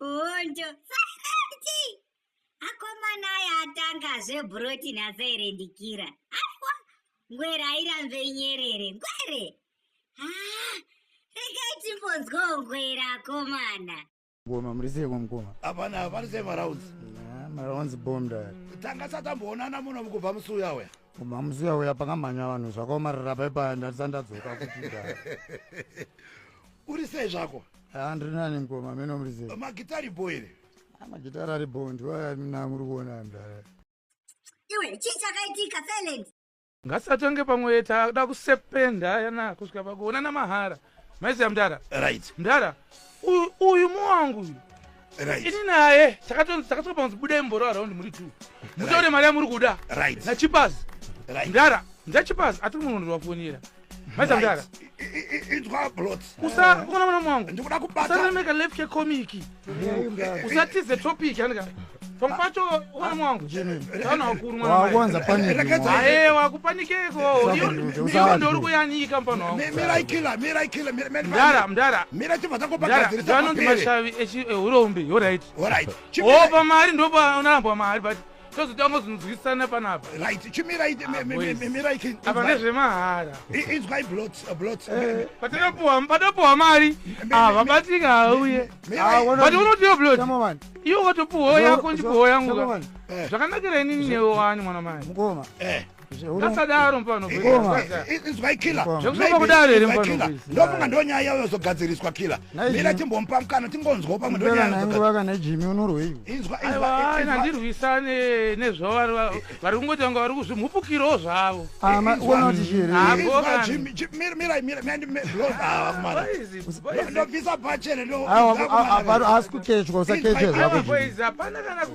Hondo. Sarati. Akomana aya atanga zvebroti nhasi irendikira. Aiwa. Ngwere airambe nyerere. Ngwere. Ah. Regai timbonzwawo ngwere akomana. Ngoma muri sei mukoma? Hapana, hapana sei maraunzi. Maraunzi bomb dai. Tanga satamboonana muno mukubva musi uya uya. Mama musiya uya pakamhanya vanhu zvakaomarara pai paya ndati ndadzoka kuchida. Uri sei zvako? Ah ndiri nani mkoma meno muri sei? Magitari boy ere? Ah magitari ari boy ndiwo aya mina muri kuona mdara. Iwe chii chakaitika Felix? Ngasatonge pamwe takuda kusependa yana kusvika pakuonana mahara. maiziva mdara right mdara uyu uyu muwangu uyu right ini naye takatonzi takatoka panzi budai mboro around muri two mutaure mari yamuri kuda right nachipazi right mdara ndachipazi atiri munhu ndivafonera maiziva mdara inzwa blot usa ukona mwana muwangu ndikuda kubata usanemeka left yekomiki usatize topic anika pamwe pacho ukamu wangu kana wakuru mwanawakuwanza panikae wakupanikeko iyo ndori kuyanyika mpano wangu mdara mdara mdaraanonzi mashavi ehuroumbi orit opa mari ndopa unarambwa mari but tozotanga kuzonzwisisana panapa right chimirai ah, mirai apa nezvemahara inzwai blotpatopuwa eh, mari ah, vabatika hauye ah, but unotiyo blot iwo watopuwawo yako ndipuwawo yangu eh. zvakanakira inini newe wani mwana mai mukoma eh. ngasadaro mfana inzwai kila zvekusoka kudaro here mfana ndofunga ndo nyaya yavo yozogadziriswa kila mira timbomupa mukana tingonzwawo pamwe ndonyayaaka nejimi unorwei inzwaina ndirwisane nezvavari vari kungoti vanga vari kuzvimhupukirawo zvavo ndobvisa pachene asi kukechwa usakechezvako